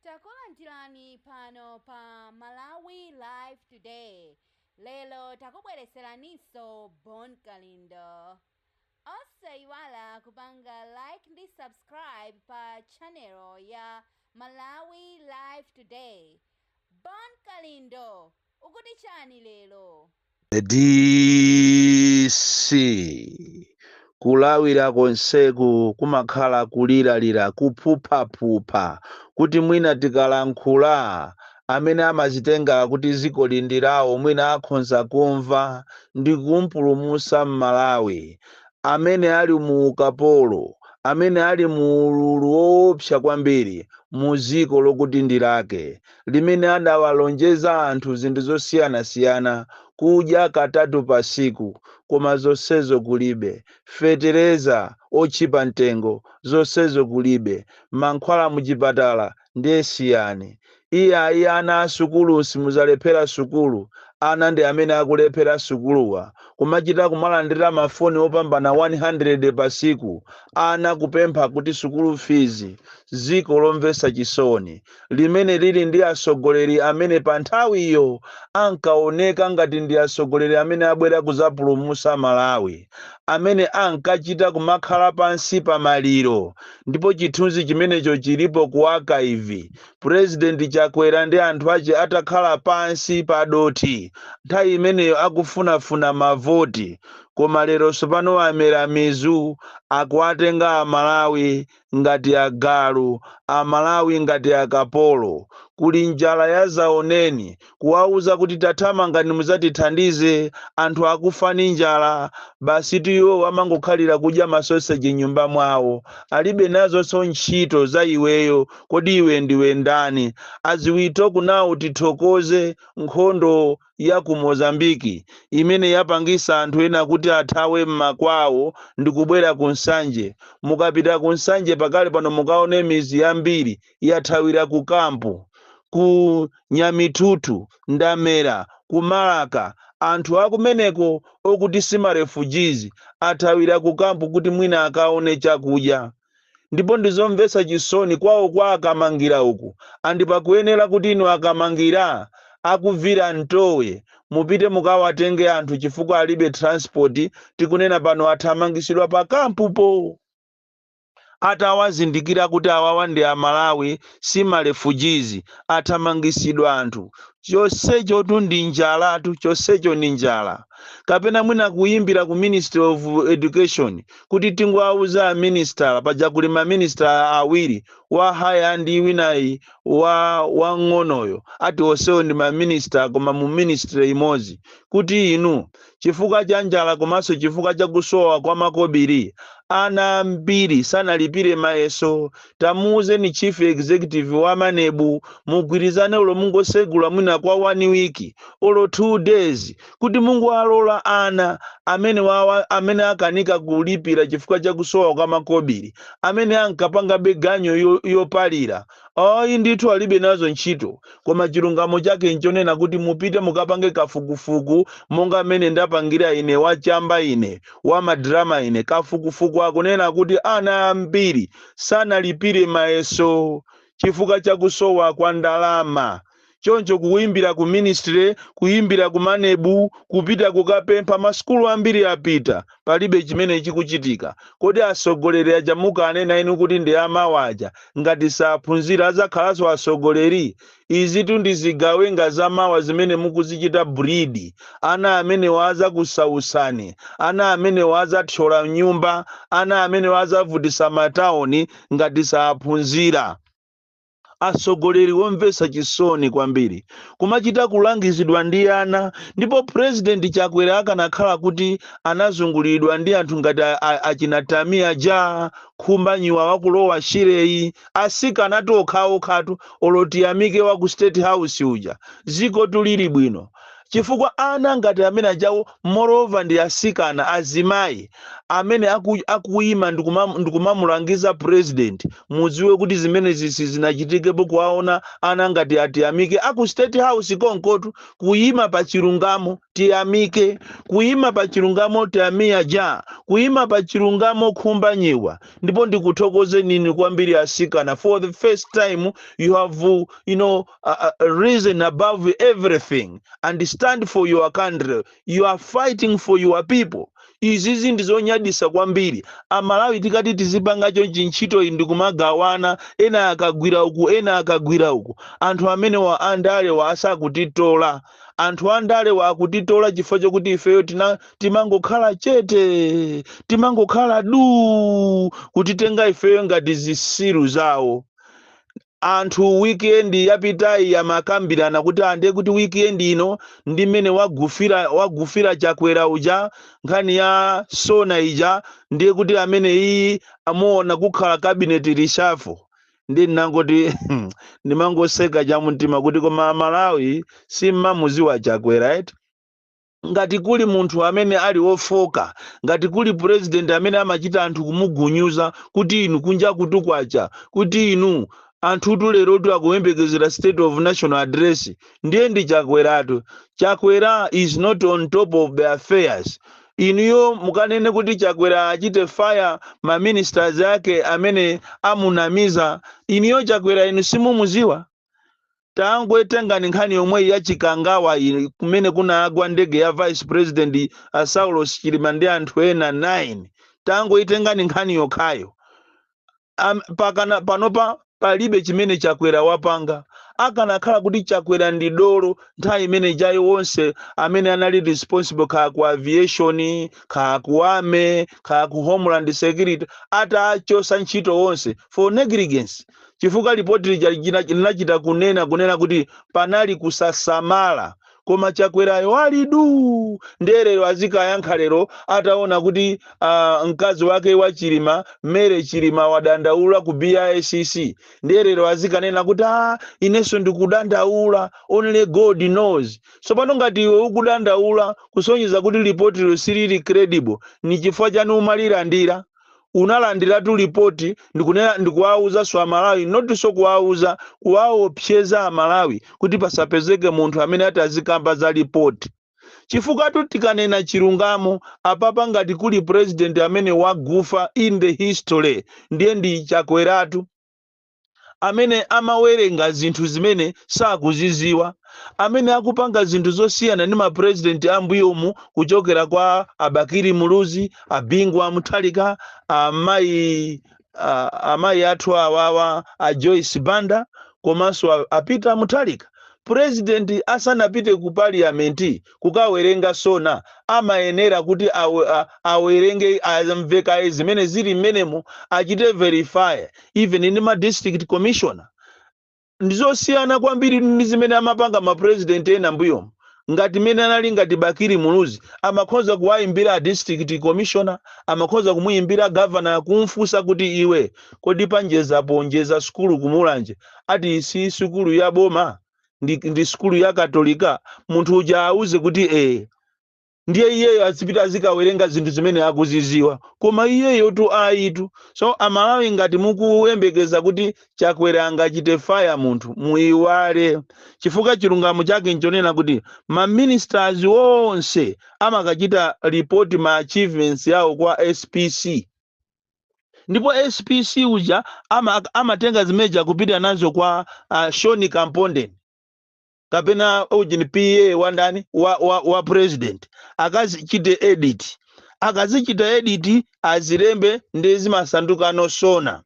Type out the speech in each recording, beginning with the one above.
Takulandirani pano pa Malawi Live Today. Lero takubwereseraninso Bon Kalindo. Osayiwala kupanga like ndi subscribe pa channel ya Malawi Live Today. Bon Kalindo Ukuti chani lero? The DC, Kulawira konseku kumakhala kuliralira, kuphuphaphupha kuti mwina tikalankhula amene amazitenga kuti zikoli ndi lawo mwina akhonza kumva ndikumpulumusa m'Malawi amene ali mu ukapolo, amene ali mu ululu woopsa kwambiri mu ziko lokuti ndi lake. limene adawalonjeza anthu zinthu zosiyanasiyana, kudya katatu patsiku, koma zonsezo kulibe, fetereza otchipa mtengo, zonsezo kulibe, mankhwala muchipatala ndiye siyani. Iyayi ana a sukulu simudzalephera sukulu, ana ndi amene akulephera sukuluwa, kumachita kumalandira mafoni opambana 100 patsiku, ana kupempha kuti sukulu fizi, dziko lomvetsa chisoni. limene lili ndi atsogoleri amene pa nthawiyo ankaoneka ngati ndi atsogoleri amene abwera kudzapulumutsa Malawi, amene ankachita kumakhala pansi pa maliro, ndipo chithunzi chimenecho chilipo ku archive, Pulezidenti Chakwera ndi anthu ache atakhala pansi pa dothi nthawi imeneyo akufunafuna mavoti, koma lero tsopano amera mizu, akuwatenga Amalawi ngati agalu, amalawi ngati akapolo, kuli njala yazaoneni, kuwauza kuti tathamangani muzatithandize anthu akufa ndi njala, basi iwo amangokhalira kudya ma sausage m'nyumba mwawo, alibe nazonso ntchito za iweyo, kodi iwe ndiwe ndani, as we talk now tithokoze nkhondo ya ku Mozambique imene yapangisa anthu ena kuti athawe mmakwawo ndikubwera ku Nsanje. Mukapita ku Nsanje pakali pano mukaone mizi yambiri yathawira ku camp. Ku Nyamithuthu, Ndamera, ku Malaka anthu akumeneko okuti si ma refugees athawira ku camp kuti mwina akaone chakudya. ndipo ndizomvetsa chisoni kwawo kwa akamangira uku and pakuyenera kuti inu akamangira a Kuvira Ntowe mupite mukawatenge anthu chifukwa alibe transport tikunena pano athamangisidwa pa kampupo atawazindikira kuti awawa ndi amalawi si ma refugees athamangisidwa anthu chonsechotu ndi njalatu chonsecho ndi njala kapena mwina kuyimbira ku ministry of education kuti tingowauza a Minister, paja kuli ma Minister awiri, wa higher ndi winayi wang'onoyo, ati onsewo ndi ma Minister koma mu Ministry imodzi, kuti inu chifukwa cha njala komanso chifukwa cha kusowa kwa makobiri, ana ambiri sanalipire mayeso tamuuzeni chief executive wa MANEB mugwirizane olo mungosegula mwina kwa one week olo two days kuti mungowalola ana amene wawa amene akanika kulipira chifukwa cha kusowa kwa makobiri amene ankapangabe ganyo yo- yopalira ayi ndithu alibe nazo ntchito koma chilungamo chake nchonena kuti mupite mukapange kafukufuku monga mmene ndapangira ine wachamba ine wamadrama ine kafukufuku akunena kuti ana ambiri sanalipire mayeso chifukwa cha kusowa kwa ndalama. Choncho kuimbira ku ministry, kuimbira ku MANEB, kupita kukapempha, masukulu ambiri apita, palibe chimene chikuchitika. Kodi atsogoleri aja mukanena inu kuti ndi amawa aja, ngati saphunzira adzakhalanso atsogoleri? Izitu ndi zigawenga za mawa zimene mukuzichita breed. Ana amenewa azakusautsani. Ana amenewa azathyola m'nyumba. Ana amenewa azavutitsa ma town ngati saphunzira. Atsogoleri womvetsa chisoni kwambiri. Kumachita kulangizidwa ndi ana ndipo President Chakwera akanakhala kuti anazunguliridwa ndi anthu ngati a a achina Tammy aja, Khumbanyiwa wakulowa Shire yi, atsikana tu okhaokhatu olo tiyamike wa ku state house uja dzikotu lili bwino chifukwa ana ngati amene ajawo moreover ndi asikana azimayi amene aku, akuyima ndikumam- ndikumamulangiza president mudziwe kuti zimenezi sizinachitikepo kuwaona ana ngati atiyamike aku state house konkotu kuyima pa chilungamo tiyamike kuyima pa chilungamo Tamiya aja kuyima pa chilungamo Khumbanyiwa ndipo ndikuthokozeninso inu kwambiri asikana for the first time you have uh, you know uh, uh, risen above everything and stand for your country you are fighting for your people izizi ndizonyadisa kwambiri amalawi tikati tizipanga chonchi ntchito iyi ndikumagawana ena akagwira uku ena akagwira uku anthu amenewa andalewa asakutitola Anthu andale wa akutitola chifukwa chokuti ifeyo tina timangokhala chete, timangokhala duu, kutitenga ifeyo ngati zisiru zawo. Anthu weekend yapitayi amakambirana kuti ah, ndiye kuti weekend ino ndi mmene wagufira wagufira Chakwera uja nkhani ya Sona ija, ndiye kuti amene iyi ya mmawa kuno kukhala cabinet reshuffle. ndiye ndinangoti ndimangoseka chamumtima kuti koma amalawi simmamuziwa chakwera eti ngati kuli munthu amene ali wofoka ngati kuli purezidenti amene amachita anthu kumugunyuza kuti inu kunja kutukwacha kuti inu anthutu lerotu akuyembekezera state of national address ndiye ndi chakweratu chakwera is not on top of the affairs inuyo mukanene kuti chakwera achite fire ma ministers ake amene amunamiza inuyo chakwera inu simumuziwa tangoitengani nkhani yomweyi ya chikangawa iyi kumene kunagwa ndege ya vice president uh, saulos chilima ndi anthu ena 9 tangoitengani nkhani yokhayo mpakana panopa palibe chimene chakwera wapanga akanakhala kuti chakwera ndi dolo nthawi imene ijayi onse amene anali responsible kaya ku aviation kaya ku army kaya ku homeland security atachosa ntchito onse for negligence chifukwa lipoti lija lina- linachita kunena kunena kuti panali kusasamala koma chakwerayo ali duu ndiye lero azikayankha lero ataona kuti ah, mkazi wake wa chilima Mary chilima wadandaula ku bbc ndiye lero azikanena kuti ah, inenso ndikudandaula only god knows tsopano ngati iwe ukudandaula kusonyeza kuti lipotilo silili credible ni chifukwa chani umalilandira unalandiratu lipoti ndikunena ndikuwauzanso amalawi notinso kuwauza kuwaopseza amalawi kuti pasapezeke munthu amene atazikamba za lipoti chifukwatu tikanena chilungamo apapa ngati kuli president amene wagufa in the history ndiye ndi chakweratu amene amawerenga zinthu zimene sakuziziwa, amene akupanga zinthu zosiyana ndi ma president a mbuyomu kuchokera kwa a Bakili Muluzi, a Bingu wa Mutharika, a mayi a, amayi athu awawa a Joyce Banda komanso a, a Peter Mutharika. President asanapite ku parliament kukawerenga sona amayenera kuti aw, a, awerenge amve kaye zimene zili mmenemo achite verify even ndi ma district commissioner ndizosiyana kwambiri ndi zimene amapanga ma president ena mbuyomu ngati mene anali ngati bakiri muluzi amakhoza kuwayimbira a district commissioner amakhoza kumuyimbira governor kumfunsa kuti iwe kodi pa njezapo njeza sukulu kumulanje ati si sukulu ya boma ndi, ndi sukulu ya katolika munthu uja auze kuti ee ndiye iyeyo azipita azikawerenga zinthu zimene akuziziwa koma iyeyotu ayitu so amalawi ngati mukuyembekeza kuti chakwera angachite faya munthu muiwale chifukwa chilungamo chake nchonena kuti maministers onse amakachita report ma achievements yawo kwa spc ndipo spc uja ama, amatenga zimeja kupita nazo kwa uh, shoni kampondeni kapena ujini PA wandani wa, wa, wa president akazichite edit akazichita edit azilembe nde zimasandukano sona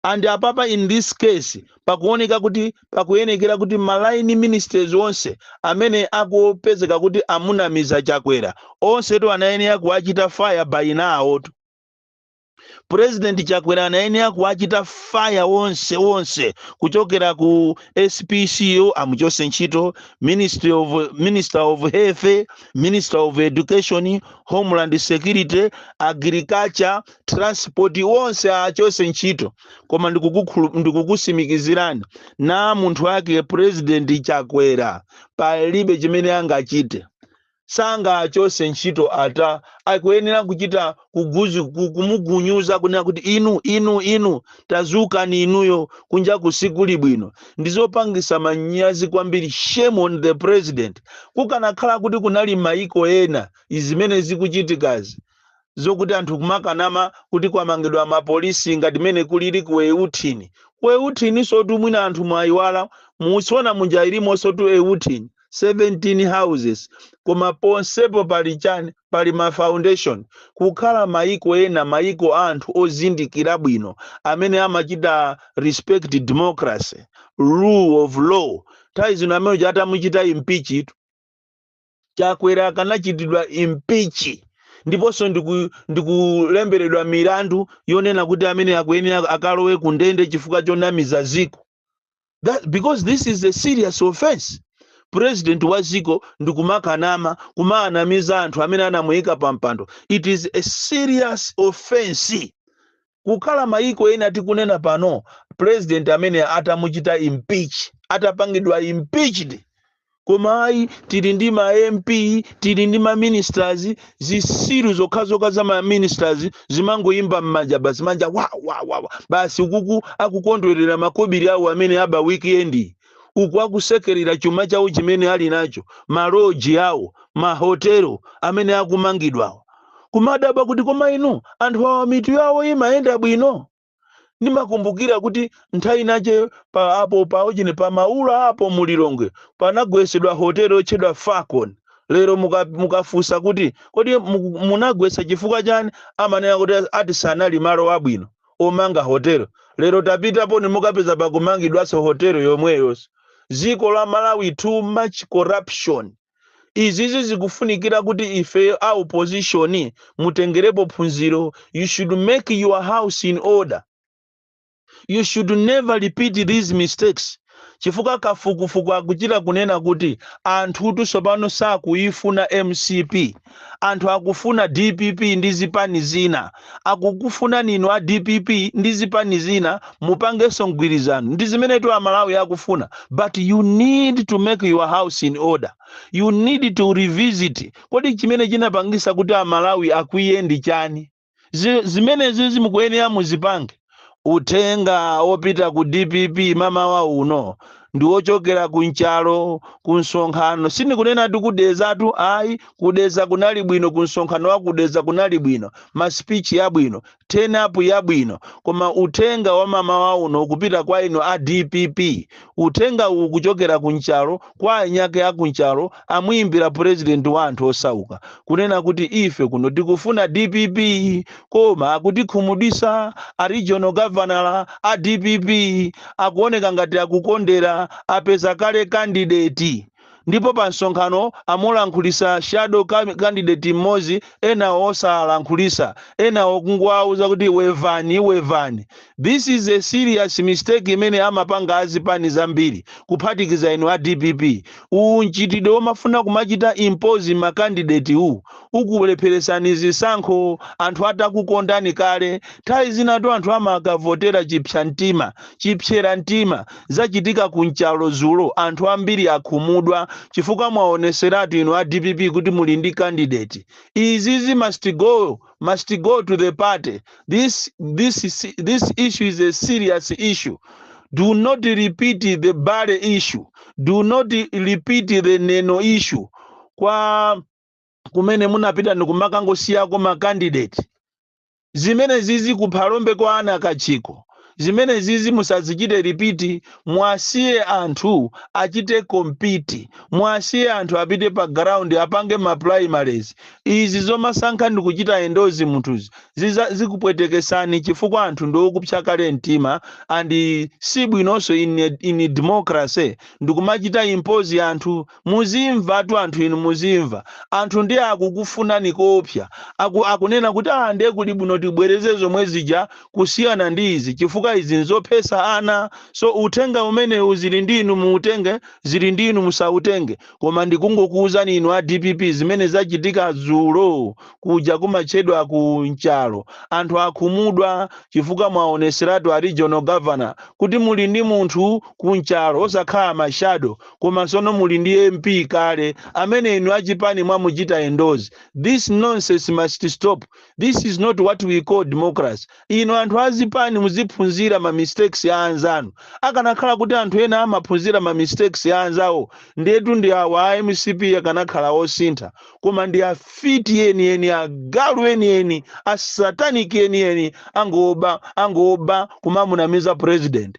and apapa in this case pakuoneka kuti pakuyenekera kuti ma line ministers onse amene akupezeka kuti amunamiza chakwera onsetu anayenera kuwachita fire by now tu president chakwera anayenera kuwachita fire onse onse kuchokera ku spc amuchose ntchito ministry of minister of health minister of education homeland security agriculture transport wonse aachose ntchito koma ndikukukhulu- ndikukusimikizirani ndi munthu wake president chakwera palibe chimene angachite sangaachose ntchito ata akuyenera kuchita kuguzi ku- kumugunyuza kunena kuti inu inu inu tazukani inuyo kunja kusikuli bwino ndizopangisa manyazi kwambiri shame on the president kukanakhala kuti kunali maiko ena zimene zikuchitikazi zokuti anthu kumakanama kuti kwamangidwa mapolisi ngati mmene kulili ku euthini ku euthinisotu mwina anthu mwayiwala mu sona muja ilimonsotu euthini 17 houses koma ponsepo pali chani pali ma foundation kukhala mayiko ena mayiko a anthu ozindikira bwino amene amachita respect democracy rule of law nthawi zino ameneuja atamuchita impeach chakwera akanachitidwa impeach ndiponso ndiku- ndikulemberedwa milandu yonena kuti ameneyu akuyenera akalowe ku ndende chifukwa chonamiza ziko because this is a serious offense president wa ziko ndikumakanama kumaanamiza anthu amene anamuyika pa mpando it is a serious offense kukhala mayiko ena tikunena pano president ameneyu atamuchita impeach atapangidwa impeached koma ayi tili ndi ma mp tili ndi ma ministers zisiru zokhazokha za ma ministers zimangoyimba m'manja basi manja wa wa wa wa basi uku akukondwerera makobiri awo amene aba weekend uku akusekerera chuma chawo chimene ali nacho maloji awo mahotelo amene akumangidwawo kumadaba kuti koma inu anthu awa mitu yawo imayenda bwino ndimakumbukira kuti nthawi inayake pa apo paujine pa maula apo mu lilongwe panagwesedwa hotelo yotchedwa falcon lero muka- mukafunsa kuti kodi muku- munagwesa chifukwa chani amanena kuti ati sanali malo abwino omanga hotelo lero tapitaponi mukapeza pakumangidwaso hotelo yomweyo dziko la malawi too much corruption izizi zikufunikira kuti ife a opposition mutengerepo phunziro you should make your house in order you should never repeat these mistakes chifukwa kafukufuku akuchita kunena kuti anthutu tsopano sakuifuna mcp anthu akufuna dpp ndi zipani zina akukufunani inu a dpp ndi zipani zina mupangenso mgwirizano ndi zimenetu amalawi akufuna but you need to make your house in order you need to revisit kodi chimene chinapangisa kuti amalawi akwiye ndi chani Zi- zimenezi mukuyenera muzipange uthenga wopita ku dpp mamawa uno ndi wochokera ku nchalo ku msonkhano sindikunena ku dedzatu ayi ku dedza kunali bwino ku msonkhano wa ku dedza kunali bwino masipichi yabwino turn up yabwino koma uthenga wa mamawa uno ukupita kwa inu a dpp Uthenga uwu ukuchokera ku nchalo kwa anyakwawa a ku nchalo amuyimbira president wa anthu osauka kunena kuti ife kuno tikufuna dpp koma akutikhumudwisa a regional governor a dpp akuoneka ngati akukondera apeza kale candidate ndipo pa msonkhano amalankhulisa shadow candidate mmodzi enawo osalankhulisa enawo kungowauza kuti wevani wevani this is a serious mistake imene amapanga azipani zambiri kuphatikiza inu a dpp uwu mchitidwe womafuna kumachita impose ma candidate uwu ukulepheresani zisankho anthu atakukondani kale nthawi zinatu anthu amakavotera chipsa chipsera mtima zachitika ku nchalo zulo anthu ambiri akhumudwa chifukwa mwaoneseratu inu a dpp kuti muli ndi candidate izizi must go must go to the party this this this issue is a serious issue do not repeat the bale issue do not repeat the neno issue kwakumene munapita ndikumakangosiyako ma candidate Zimenezizi ku Phalombe kwa Anna Kachikho zimenezizi musazichite repeat muwasiye anthu achite compete muwasiye anthu apite pa ground apange ma primaries izi zomasankha ndikuchita endorse munthuzi zikupwetekesani chifukwa anthu ndi okupsa kale mtima and sibwinonso in a in democracy ndikumachita impose anthu Muzimvatu anthu inu muzimva. Anthu ndi akukufunani koopsa. Akunena kuti aah ndiye kuli bwino tibwereze zomwe zija kusiyana ndi izi chifukwa izi nzophesa ana. So uthenga umenewu zili ndi inu muutenge zili ndi inu musautenge. Koma ndikungokuuzani inu a dpp zimene zachitika dzulo kuja kumatchedwa ku Nchalo. Anthu akhumudwa chifukwa mwaoneseratu a regional governor kuti muli ndi munthu ku Nchalo osakhala ma shadow. koma sono muli ndi mp kale amene inu achipani mwamuchita endorse this nonsense must stop this is not what we call democracy inu anthu azipani muziphunzira ma mistakes a anzanu akanakhala kuti anthu ena amaphunzira ma mistakes a anzawo ndiyetu ndi awa a mcp akanakhala osintha koma ndi afiti enieni agalu enieni asataniki enieni angoba angoba kumamunamiza president